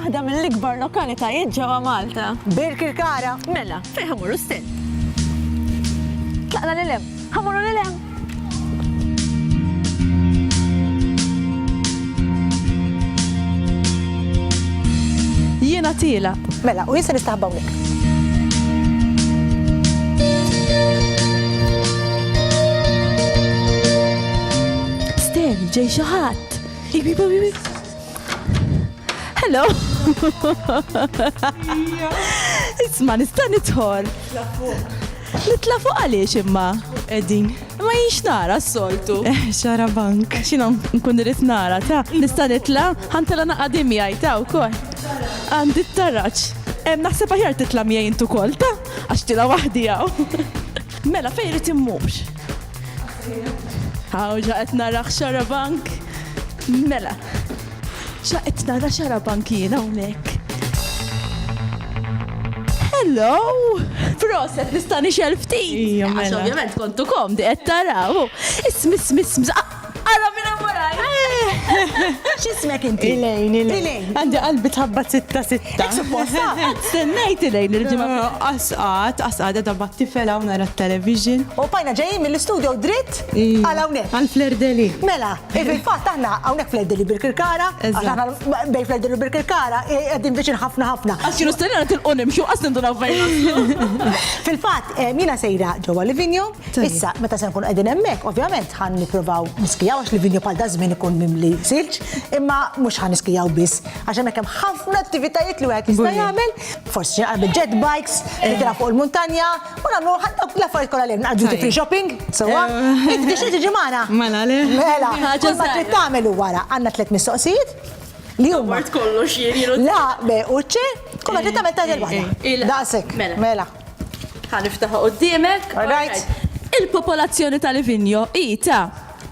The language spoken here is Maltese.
waħda mill-ikbar lokalitajiet ġewwa Malta. Birk il-Kara. Mela, fejn ħamuru stent. Tlaqna lil hemm, ħamuru lil hemm. Jiena tielaq. Mela, u jien se nistaħba hawnhekk. Steri, ġej xi ħadd. Hello. Isma' nista' nidħol. Nitla' fuq għaliex imma? Qegħdin. Imma jien x'nara s-soltu? Eh, xarabank. Għax jiena nkun irrid nara, ta. Nista' nitla'? Ħa ntelgħu naqgħa din miegħi, ta, wkoll. Għandi t-taraġ. Eh, naħseb aħjar titla' miegħi int ukoll, ta. Għax tilgħu waħdi hawn. Mela fejn irid immur? Hawn xa qed nara xarabank. Mela. Xa qed nara xarabank jien hawnhekk. Hello! Proset, nista' nixel ftit. Ija mela. Għax ovvjament kontu komdi qed taraw. Ismi, ismi, ismi. Ara minn hemm waraj. X'ismek inti? Ilejn, Ilejn. Għandi qalbi tħabbat sitta sitta. Ek supposta. Għad stennejt lejn il-ġimgħa. Asqat, asqat edha bat tifel hawn nara t-television. U pajna ġejjin mill-istudio dritt għal hawnhekk. Għal flerdeli. Mela, fil-fatt aħna hawnhekk flerdeli birkirkara. Bej flerdeli u birkirkara qegħdin viċin ħafna ħafna. Għax kienu stenna tilqu nimxu qas nindu navvejn. Fil-fatt, jiena sejra ġewwa Livinjo. Issa, meta se nkun qegħdin hemmhekk, ovvjament ħan nipprovaw niskijaw għax Livinjo bħal dażmin ikun mimli silġ, imma mhux ħan niskijaw biss. Għax hemmhekk hemm ħafna attivitajiet li wieħed jista' jagħmel, forsi xi naqra jet bikes, eh. nitilgħu fuq il-muntanja, u nagħmlu ħadd dawk l-affarijiet kollha li hemm naqdu free shopping, sewwa. Eh. Inti tixtieq tiġi magħna? Mela le. Mela, ħaġa ma trid tagħmel wara għandna tliet mistoqsijiet li huma. Mort kollox jienu. La, be, uċċe, kollha trid tagħmel tagħmel waħda. Daqsek. Mela. mela. Ħaniftaħ qudiemek. Il-popolazzjoni tal-Livinjo hi ta'